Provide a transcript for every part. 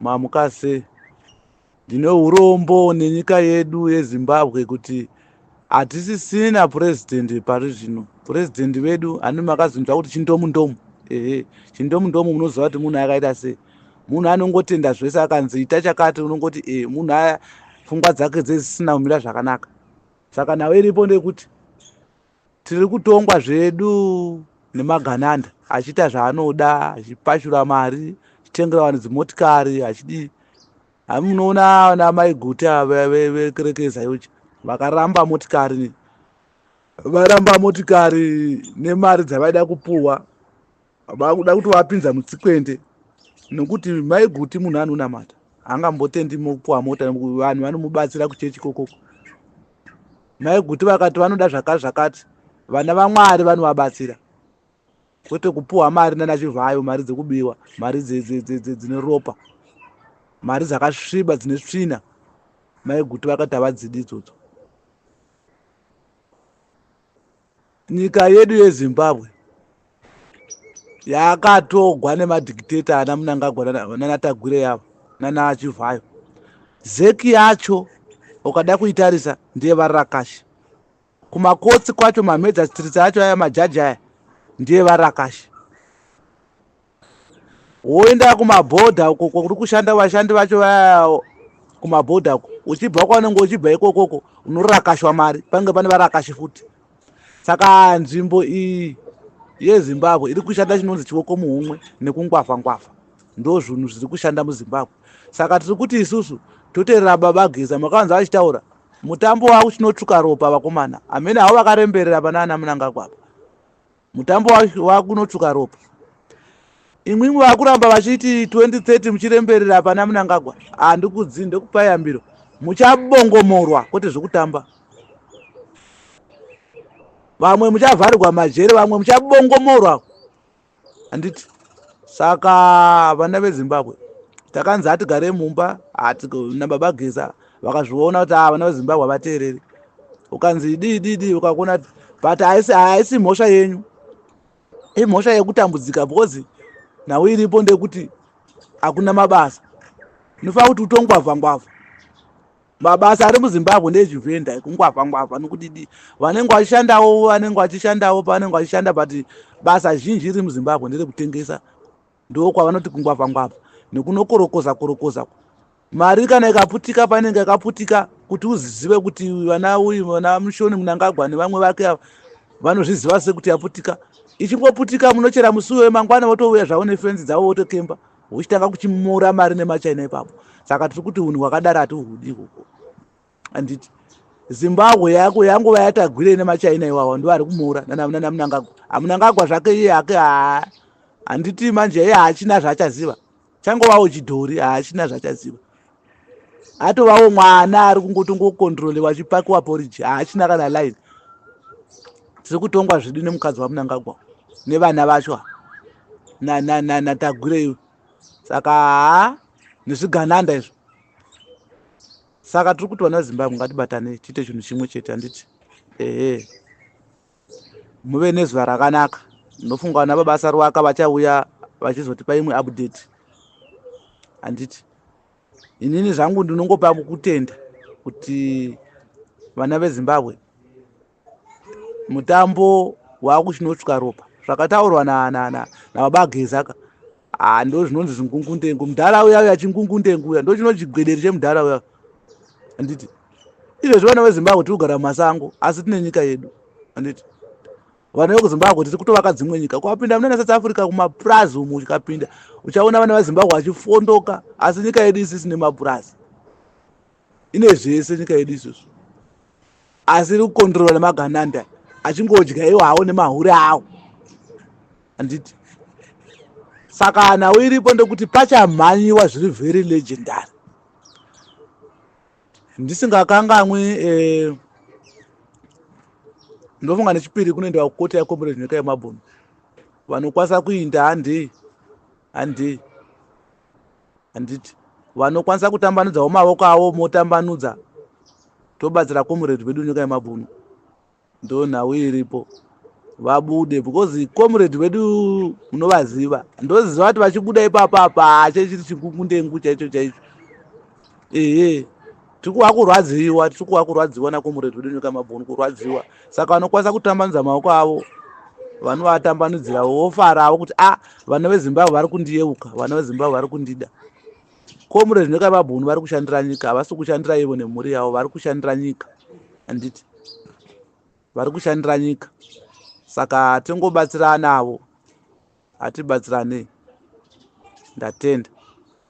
Mamuka sei? Ndine urombo nenyika yedu yeZimbabwe kuti hatisisina purezidhendi pari zvino. Purezidhendi vedu hanimi makazonzwa kuti chindomundomu? Ehe, chindomundomu munoziva kuti munhu akaita sei? Munhu anongotenda zvese akanzi ita chakati unongoti e munhu aya pfungwa dzake dzezisina kumira zvakanaka. Saka nhau iripo ndeyekuti Tiri kutongwa zvedu nemagananda achiita zvaanoda achipashura mari achitengera vanhu dzimotikari achidii munoona ana mai guta vekerekeza yochi vakaramba motikari varamba motikari nemari dzavaida kupuwa vakuda kutovapinza mutsikwende nokuti maiguti munhu anonamata angambotendi mopuwa mota vanhu vanomubatsira kuchechi kokoko maiguti vakati vanoda zvakati zvakati vana vamwari vanovabatsira kwete kupuwa mari nana chivhayo mari dzekubiwa mari dzine ropa mari dzakasviba dzine svina maiguti vakati havadzidi idzodzo nyika yedu yezimbabwe yakatogwa nemadhikiteta ana munangagwa nanatagwire yavo nanachivhayo zeki yacho ukada kuitarisa ndiye varakashi kumakotsi kwacho mamedza stritsi acho aya majaji aya ndiye varakashi woenda kumabhodha uko kuri kushanda vashandi vacho vaya kumabhodha uko uchibva kwaunenge uchibva ikokoko unorakashwa mari pange pane varakashi futi saka nzvimbo iyi yezimbabwe iri kushanda chinonzi chioko muhumwe nekungwafa ngwafa ndo zvinhu zviri kushanda muzimbabwe saka tiri kuti isusu toterera baba geza makavanza vachitaura mutambo wavo chinotsvuka ropa vakomana hamene havo vakaremberera pana ana munangagwapa mutambo wakunotsvuka ropa imwimwe vakuramba vachiti 2030 muchiremberera pana munangagwa handikudzi ndekupai yambiro muchabongomorwa kwete zvekutamba vamwe muchavharirwa majere vamwe muchabongomorwa handiti saka vana vezimbabwe takanzi hatigare mumba hatina baba geza vakazviona kuti ava ah, vana vezimbabwe havateereri ukanzi dii dii dii ukakuona but haisi haisi mhosva yenyu imhosva yekutambudzika because nhau iripo ndekuti hakuna mabasa nofana kuti utongwavha ngwavha mabasa ari muzimbabwe ndezvivenda kungwavha ngwavha nokudidi vanenge vachishandawo vanenge vachishandawo pavanenge vachishanda but basa zhinji riri muzimbabwe nderekutengesa ndokwavanoti kungwavha ngwavha nekunokorokoza korokoza mari kana ikaputika painenge ikaputika kuti uzizive kuti vana uyu vana mushoni munangagwa nevamwe vake ava vanozviziva sekuti yaputika ichingoputika munochera musi uyoyo mangwana votouya zvavo nefenzi dzavo votokemba uchitanga kuchimura mari nemachina ipapo saka tiri kuti unhu hwakadaro hatihuhudi ikoko handiti zimbabwe yako yanguva yatagwire nemachina iwawa ndo ari kumuura nana munangagwa amunangagwa zvake iye hake haa handiti manje iye haachina zvaachaziva changovawo chidhori haachina zvaachaziva atovawo mwana ari kungotongokontrolewa achipakiwa poriji haachina kana line tiri kutongwa zvedu nemukadzi wamunangagwa nevana vacho natagwire iwe saka haa nezvigananda izvo saka tiri kuti vana vezimbabwe ngatibatanei tiite chinhu chimwe chete handiti ehe muve nezuva rakanaka ndinofunga vana vabasa rwaka vachauya vachizotipa imwe update handiti inini zvangu ndinongopa kutenda kuti vana vezimbabwe mutambo wakuchinotsvika ropa zvakataurwa na na na nababa gezaka ah ndo zvinonzi zvingungundengu mudhara uya uya chingungundengu uya ndo chinochigwederi chemudhara uya anditi izvezvi vana vezimbabwe tiri kugara mumasango asi tine nyika yedu anditi vana vekuzimbabwe tiri kutovaka dzimwe nyika kwapinda munana south africa kumapurazi umu uchikapinda uchaona vana vezimbabwe vachifondoka asi nyika yedu isisine mapurazi ine zvese nyika yedu izvozvo asi iri kukondirora nemagananda achingodya iwo hawo nemahure awo handiti saka nhau iripo ndekuti pachamhanyiwa zviri very legendary ndisingakanganwi eh, ndofunga nechipiri kunoenda kukoti yakomborera nyika yemabhunu vanokwanisa kuinda handei handei handiti vanokwanisa kutambanudzawo maoko avo motambanudza tobatsira comrade vedu nyika yemabvuno ndo nhau iripo vabude because comrade vedu munovaziva ndoziva kuti vachibuda ipapa apa chechiri chikungundengu chaicho chaicho ehe tikuwa kurwadziwa tikuwa kurwadziwa nakomuretu wedu nyika mabhunu kurwadziwa saka vanokwanisa kutambanudza maoko avo vanovatambanudzira vofaravo kuti a ah, vana vezimbabwe vari kundiyeuka vana vezimbabwe vari kundida komuretu nyika mabhunu vari kushandira nyika havasi kushandira ivo nemhuri yavo vari kushandira nyika handiti vari kushandira nyika saka tingobatsirana avo hatibatsiranei ndatenda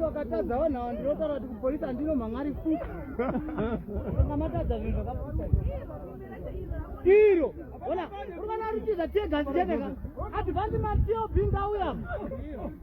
vakatadza vanhu ava ndinotaura kuti kupolisi handino mhangari futi anga matadza zvinhu zvakaputa iro ona uri vana rutiza tiegasi cheneka advansi matio bhinga uya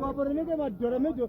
Vapore neke madhora mejo